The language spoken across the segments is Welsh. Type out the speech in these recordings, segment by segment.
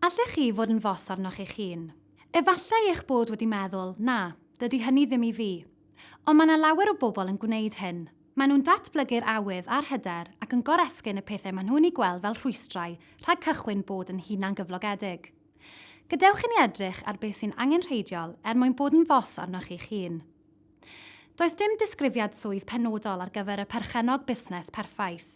Allech chi fod yn fos arnoch eich hun. Efallai eich bod wedi meddwl, 'Na, dydy hynny ddim i fi. Ond mae yna lawer o bobl yn gwneud hyn. Maen nhw'n datblygu'r awydd a'r hyder ac yn goresgyn y pethau maen nhw'n eu gweld fel rhwystrau rhag cychwyn bod yn hunangyflogedig. Gadewch i ni edrych ar beth sy'n angenrheidiol er mwyn bod yn fos arnoch eich hun. Does dim disgrifiad swydd penodol ar gyfer y perchennog busnes perffaith.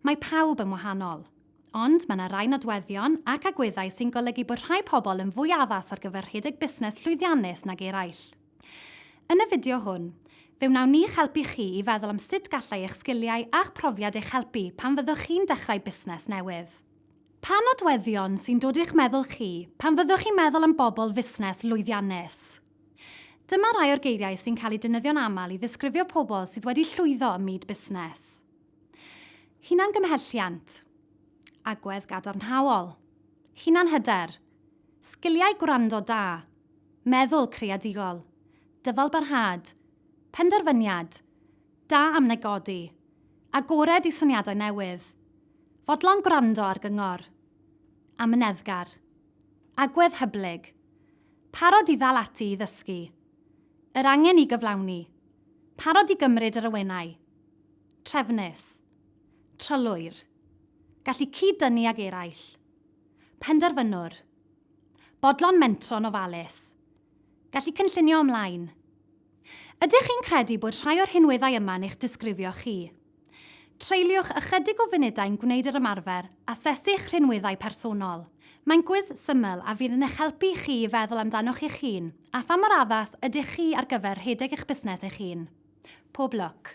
Mae pawb yn wahanol. Ond mae yna rai nodweddion ac agweddau sy'n golygu bod rhai pobl yn fwy addas ar gyfer rhedeg busnes llwyddiannus nag eraill. Yn y fideo hwn, fe wnawn ni'ch helpu chi i feddwl am sut gallai eich sgiliau a'ch profiad eich helpu pan fyddwch chi'n dechrau busnes newydd. Pa nodweddion sy'n dod i'ch meddwl chi pan fyddwch chi'n meddwl am bobl fusnes lwyddiannus? Dyma rai o'r geiriau sy'n cael eu defnyddio'n aml i ddisgrifio pobl sydd wedi llwyddo ym myd busnes. Hunangymhelliant, agwedd gadarnhaol, hunanhyder, sgiliau gwrando da, meddwl creadigol, dyfalbarhad, penderfyniad, da am negodi, agored i syniadau newydd, fodlon gwrando ar gyngor, amyneddgar, agwedd hyblyg, parod i ddal ati i ddysgu, yr angen i gyflawni, parod i gymryd yr awenau, Trefnus. Trylwyr. Gallu cyd-dynnu ag eraill. Penderfynwr. Bodlon mentro'n ofalus. Gallu cynllunio ymlaen. Ydych chi'n credu bod rhai o'r rhinweddau yma'n eich disgrifio chi? Treuliwch ychydig o funudau'n gwneud yr ymarfer Asesu'ch Rhinweddau Personol. Mae'n gwis syml a fydd yn eich helpu chi i feddwl amdanoch eich hun a pha mor addas ydych chi ar gyfer rhedeg eich busnes eich hun. Pob lwc!